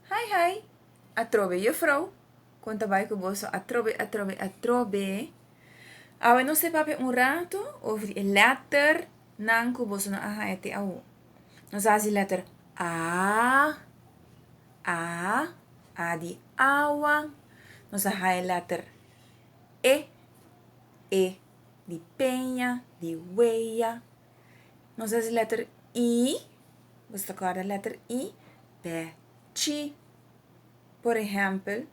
Hi hi, atrobe juffrouw, kon ta bai ku boso atrobe atrobe atrobe. Awe nos te papia un rato over e letter nan ku boso no a haya te awo. Nos a hasi letter a, a, a di awa, nos a haya letter e, e di peña, di weya. Nos hasi letter i, nos ta corda letter i, p'e chi. Por ehempel,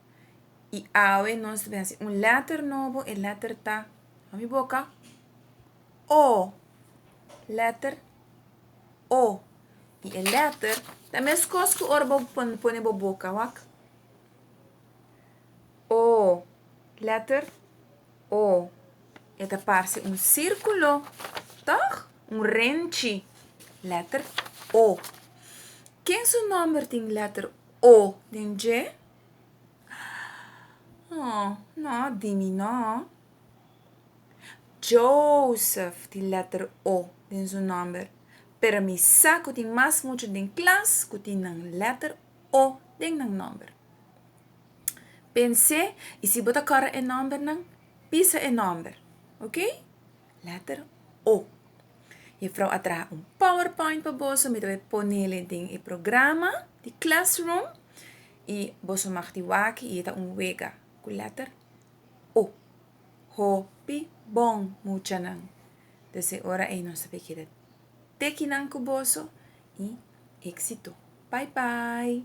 y awe nos ta bin hasi un letter nobo, e letter ta, na mi boca, o, letter o, y e letter ta mescos cu ora bo pone bo boca, wak, o, letter. O e ta parse un sirkulo, tòg? Un renchi. Lèter O. Ken su nòmber tin lèter O den dje? Aa, nò, di mi nò. Joseph tin lèter O den su nòmber, pero mi sa ku tin mas mucha den klas ku tin nan lèter O den nan nòmber. Pens'é i si bo ta kòrda e nòmbernan, pisa e nòmber, oke? Lèter O. Juffrou a traha un powerpoint pa boso, mi ta wak ponele den e programa di Classroom, i boso mag tin waki i e ta un wega ku lèter O. Hopi bon muchanan! Des e ora ei nos a p'e keda tekinan ku boso i éksito! Bai bai!